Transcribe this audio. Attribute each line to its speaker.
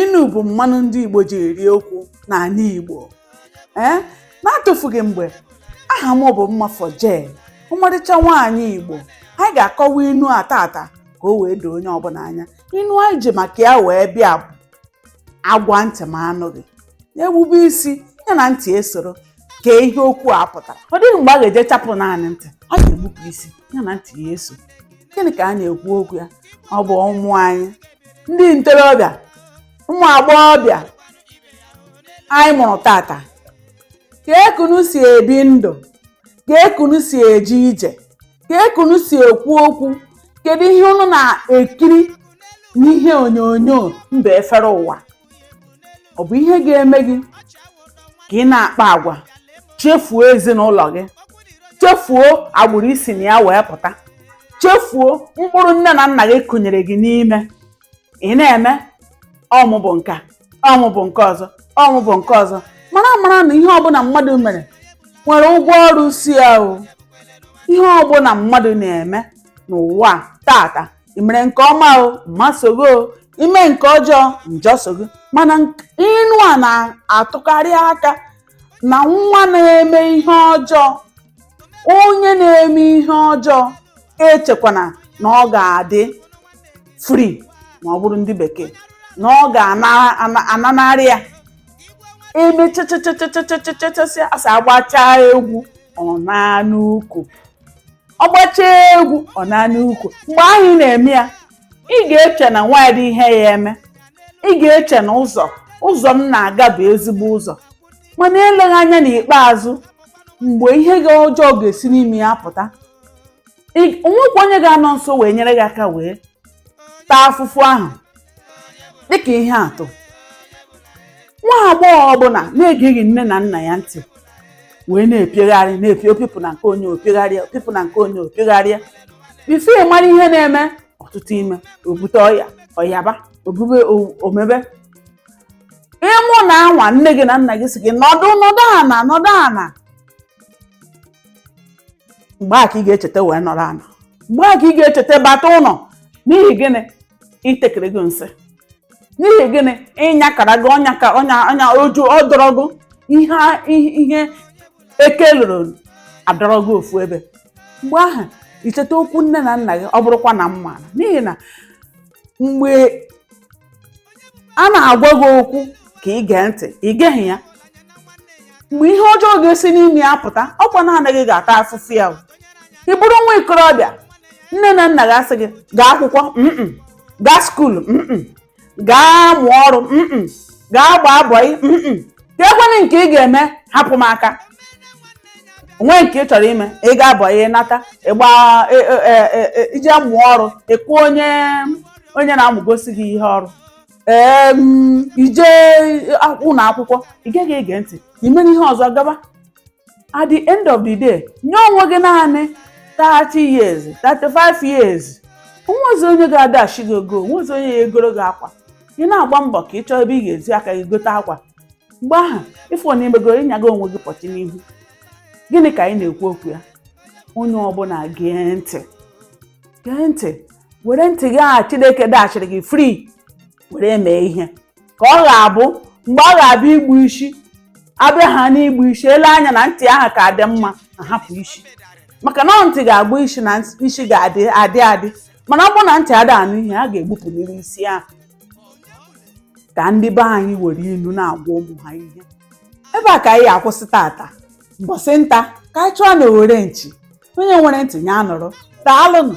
Speaker 1: inu bụ mmanụ ndị igbo ji eri okwu n'ala igbo ee n'atụfughị mgbe aha m bụ mmafọ jen ọmarịcha nwaanyị igbo anyị ga-akọwa inu a tata ka o wee doo onye ọbụla anya inu anyị ji maka ya wee bịa bụ a gwa ntị ma anụghị na-egbube isi ya na ntị esoro kee ihe okwu a pụtara ọ dịghị mgbe a ga-eje chapụ naanị ntị ọ ga-egbupụ isi ya na ntị ya eso gịnị ka a na-ekwu okwu ya ọ bụ ụmụ anyị ndị ntorobịa ụmụ agbọghọbịa anyị mụrụ tata kee ka unu si ebi ndụ kee ka unu si eje ije kee ka unu si ekwu okwu kedu ihe unu na-ekiri n'ihe onyonyo mba efere ụwa ọ bụ ihe ga-eme gị ka ị na-akpa agwa chefuo ezinụlọ gị chefuo agbụrụ i si na ya wee pụta chefuo mkpụrụ nne na nna gị kụnyere gị n'ime ị na-eme ọ mụ bụ nke a, ọ mụ bụ nke ọzọ ọ mụ bụ nke ọzọ mara amara na ihe ọbụla mmadụ mere nwere ụgwọ ọrụ so ya o ihe ọbụla mmadụ na-eme n'ụwa a tata ị mere nke ọma o mma so gị o i mee nke ọjọọ njọ so gị mana nk- inu a na-atụkarị aka na nwa na-eme ihe ọjọọ onye na-eme ihe ọjọọ echekwana na ọ ga-adị free ma ọ bụrụ ndị bekee na ọ ga-ananarị ya emechachachachachachachachacha a sị a gbachaa egwu ọ naa n'ukwu ọ gbachaa egwu ọ naa n'ukwu mgbe ahụ ị na-eme ya ị ga-eche na o nwedịghị ihe ya eme ị ga-eche na ụzọ ụzọ m na-aga bụ ezigbo ụzọ mana eleghị anya n'ikpeazụ mgbe ihe ga ọjọọ ga-esi n'ime ya pụta ị- o nwekwa onye ga-anọ nso wee nyere gị aka wee taa afụfụ ahụ dịka ihe atụ nwa agbọghọ ọbụla na-egeghị nne na nna ya ntị wee na-epiogharị na-epi o pipụ na nke onye o piogharịa o pipụ na nke onye o piogharịa before ị mara ihe na-eme ọ tụta ime o bute ọya ọ yaba o bube o- o mebe ịmụ na anwa nne gị na nna gị sị gị nọdụ nọdụ ana nọdụ ana mgbe a ka ị ga-echeta wee nọrọ ana mgbe a ka ị ga-echeta bata ụlọ n'ihi gịnị i tekerego nsị n'ihi gịnị ị nyakarago ọnya ka ọnya ọnya oju ọ dọrọ gị ihe a- ihe ihe eke loro adọrọ gị ofu ebe mgbe ahụ i cheta okwu nne na nna gị ọ bụrụkwa na m maara n'ihi na mgbe a na-agwa gị okwu ka ị gee ntị ị geghị ya mgbe ihe ọjọọ ga-esi n'ime ya pụta ọ kwa naanị gị ga-ata afụfụ ya o. ị bụrụ nwa ikorobịa nne na nna gị asị gị gaa akwụkwọ mm gaa skuulu mm gaa mụọ ọrụ mm gaa gbaa bọị mm kekwanị nke ị ga-eme hapụ m aka onwe nke ị chọrọ ime ị gaa bọị nata ịgba e- e- e- e- e- i jee mụọ ọrụ ị kụọ onye onye na-amụgosi gị ihe ọrụ ee mm, i jee ụlọ akwụkwọ ị gaghị ege ntị i mere ihe ọzọ gaba at the end of the day nye onwe gị naanị 30 years 35 years onwezi onye ga-adashị gị ego onwezi onye ya-egoro gị akwa ị na-agba mbọ ka ị chọọ ebe ị ga-eji aka gị gote akwa mgbe ahụ ị fụ na imegoro ịnya gị onwe gị pọchi n'ihu gịnị ka anyị na-ekwu okwu ya onye ọbụla gee ntị gee ntị were ntị gị ahụ chineke dashịrị gị free were mee ihe ka ọ ga-abụ mgbe a ga-abịa igbu isi abịa ha n'igbu isi e lee anya na ntị ahụ ka dị mma a hapụ isi maka na ntị ga-agba isi na isi ga-adị adị adị mana ọ bụ na ntị ada anụ ihe a ga-egbupụnịrị isi ahụ ka ndị be anyị were inu na-agwa ụmụ ha ihe ebe a ka anyị akwụsị tata mbọsị nta ka anyị chụọ na owere nchi onye nwere ntị ya nụrụ daalụnụ